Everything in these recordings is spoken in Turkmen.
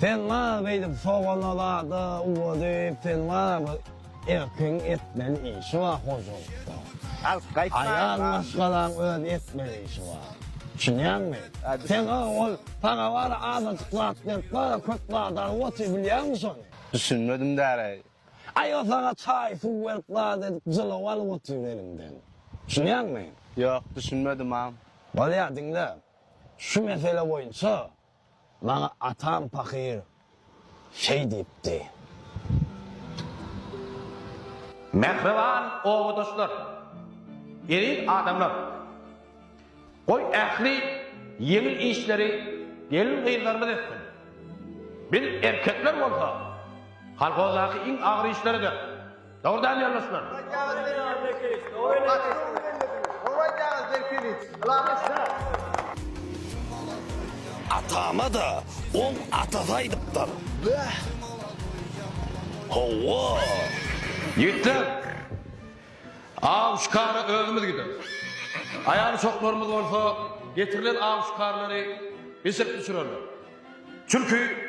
Sen gara beýdip sogana zada uwa diýip sen gara erkiň etmeli işi bar hojalykda. Alyp gaýtmaýyn bar. Aýal maşgalaň öz etmeli işi bar. Düşünýäňmi? Sen gara ol saňa bara azajyk zat berip bara köp zat alyp otyr bilýäňmi şony? Düşünmedim däre. Aý o saňa çaý suw berip zat edip jylaw alyp otyr eliňden. Düşünýäňmi? Ýok düşünmedim agam. Bolýar diňle. Şu mesele boýunça Maňa atam pahyr şeý diýipdi. Mähriban obadaşlar, eziz adamlar! Goý, ähli ýeňil işleri gelin-gyzlarymyz etsin. Biz, erkekler bolsa, kolhozdaky iň agyr işleri-de, Dogry däl ýoldaşlar. Atama-da oň atasy aýdypdyr. Bäh! Hawa! Ýigitler! Aw şikara özümiz gideris. Aýal-uşaklarymyz bolsa getirilen aw-şikarlary bişirip düşürerler. Çünki.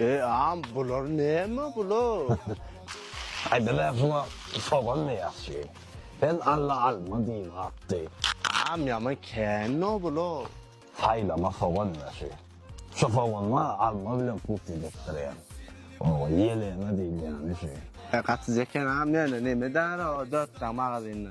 Eeaam bular näme bular. Ay bize sula sogan mi ýakşy. Sen alla alma diýiň atdy. Aam ýaman känno bular. Saýlama sogan ýaşy. Şu soganlar alma bilen put edepdirýär. Oba ýeleme diýilýäni şu. Gaty zekenaam ýöne neme edara o dört sany magazynda.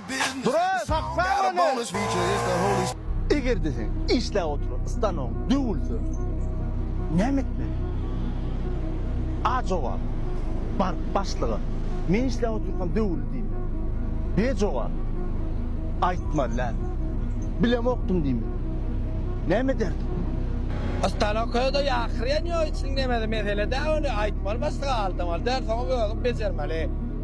Dura, sakla meni! Eger-de sen işläp oturan stanogyň döwülse, näme etmeli? A jogap, Baryp başlyga, Men işläp otyrkam döwüldi diýmeli. B jogap, Aýtmaly däl. Bilemokdym diýmeli. Näme ederdim? Stanok özde ýakyrýan ýoýuçyny demedi. Mesele däl ony. Aýtmaly başlyga, aldamaly däl. Soňam özüň bejermeli.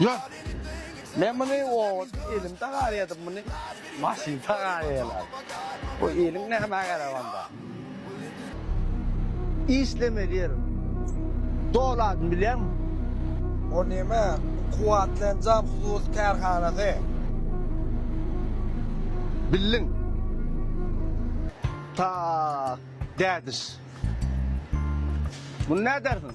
Ýok. Men muny owat elim tagar edip muny maşyn tagar eýlär. Bu eliň nämä gerek onda. Işlemeli ýerim. Doladyny bilýäňmi? O neme? Kuwwatly enjam hususy kärhanasy. Bildiň. Tak, dädiş. Muny nädersiň?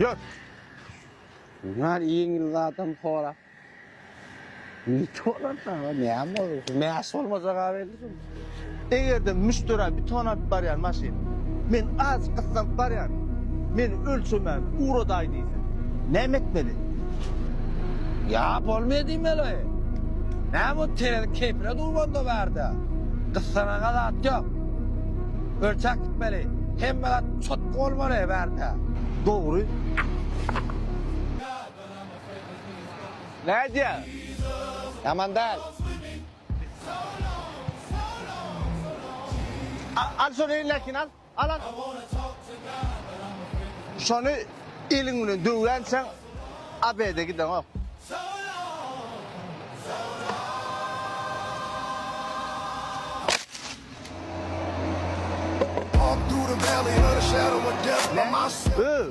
Ýat! Bunlar iňil zadam horap. Nite olar da, näme olar? Mäş bolmajak belli şol. Eger-de müşderä beton alyp barýan maşyn, men az gyssam barýan, meni ölçemän ugradaý diýse, näme etmeli? Ýa bolmaýa diýmeli. Näme bu terelik keýpine dugmanda bärde. Gyssanaga zat ýok. Ölçäp gitmeli. Hemme zat çotky bolmaly bärde. Dogry. Nädýä? Ýaman däl. Al şol elindekin al. Şony eliň bilen döwýänçäň ABD gideňok. Öö!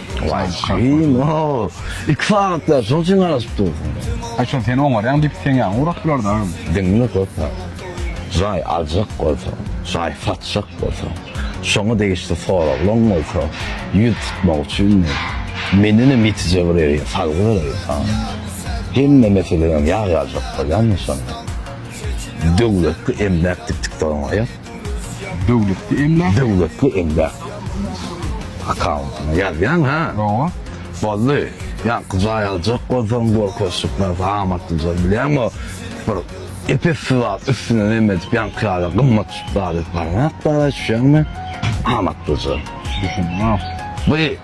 Wah şeýin o. İki sagatda şol çyn garaşyp dur. Ay şol sen oňar ýaň dip sen ýaň urak bular da. Diňle köpä. Jaý aljak bolsa, jaý satjak bolsa, şoňa degişli soraglaň bolsa, ýüz tutmak üçin men, mendenem ýetije bir ýeri, salgy bereýin saňa. Hemme meselem ýag ýaljak bolýanmy şonda? Döwletli emläk dikdik doraňaýak. Döwletli emläk. Döwletli emläk. Akkauntyňa ýazýaň ha. Oňa. Boldy. Ýaňky jaý aljak bolsaň gorkaşyk narsa amatlyja bilýäňo bir epesli zat üstüne neme edip ýaňky ýaly gymmat zat edip barmak bar düşýäňmi? Amatlyja. Düşündim. Bu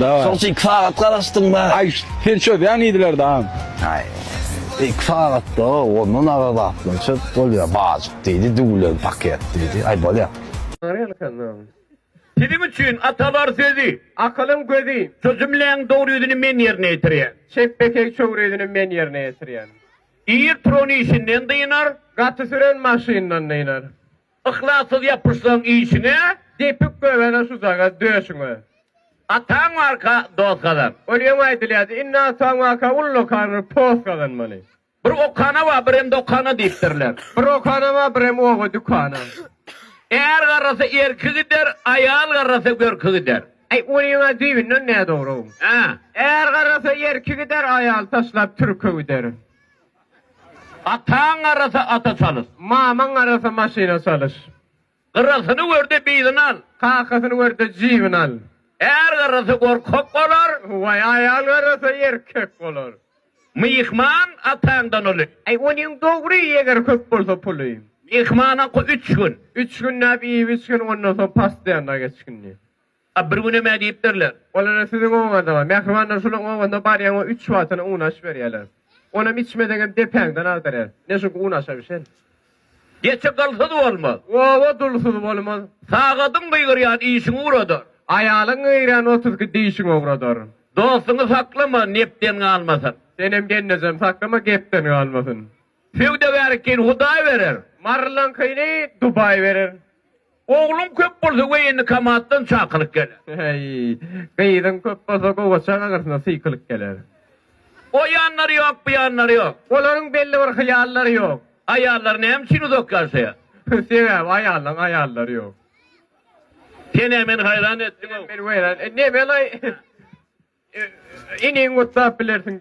Daway. Şoň üçin iki sagat garaşdyňda. Aý, sen çözýäň idilerde agam. Aý, iki sagatda ondan agyr zatlar çöz, bolýar, bajyk diýdi, düwlen paket diýdi. Aý, bolýar. Siziň üçin atalar sözi, akylyň gözi. Şu jümläň dogry ýüzüni men ýerine ýetirýän. Çep-bekeý çogry ýüzüni men ýerine ýetirýän. Ir turan işinden dynar. Gaty süren maşyndan dynar. Yhlassyz ýapyşsaň işiňe. Depip göbele susaga döşüňe. Ataň barka dost gazan. Ol ýöne aýdylýardy. Indi ataň barka ullakan bir post gazanmaly. Bir okana bar, birem dokana diýipdirler. Bir okana bar, birem oba-dükana. Är garrasa erki gider, aýal garrasa görki gider. Äý, ol ýöne düýbünden nädogry-ow. Hä. Är garrasa erki gider, aýal taşlap türki gider. Ataň garasa ata çalyş. Mamaň garasa maşyna çalyş. Gyrasyny görde bizin al. Kakasyny görde jibin al. Är garasa gorkak bolar. Waý, aýal garasa erkek bolar. Myhman ataňdan uly. Äý, onuň dogry, eger köp bolsa puly. Myhmana üç gün. Üç günläp iýip-içgin, ondan soň pasyýanda geçgin. A bir günem ä diýipdirler. Olara siziň obaňyza, mähribanlar şolaryň obasynda barýaň we üç watyna un aş berýärler. Onam içmeseňem depäňden agdarýar. Ne çünki un aşa bişen. Geçi gylsyz bolmaz. Oba dulsuz bolmaz. Sagadyň gygyrýan işiň ugradar. Aýalyň gygyrýan otuz iki dişiň ugradar. Dostuňy saklama, nepden galmasyn. Senem gelnejem saklama, gepden galmasyn. Söwdagärkiňi Hudaý berer. Marylaňkyny Dubaý berer. Ogluň köp bolsa woýennokomatdan çakylyk geler. Heý, gyzyň köp bolsa gowaça gaňrysyna sykylyk geler. O ýanlary ýok, bu ýanlary ýok. Olaryň belli bir hyýallary ýok. Aýallar näme üçin uzak ýaşaýar? Sebäbi aýallaň aýallary ýok. Sen-ä meni haýran etdiň-ow. Sen-ä meni weýran etdiň. Nemellaý, iniňi gutlap bilersiň.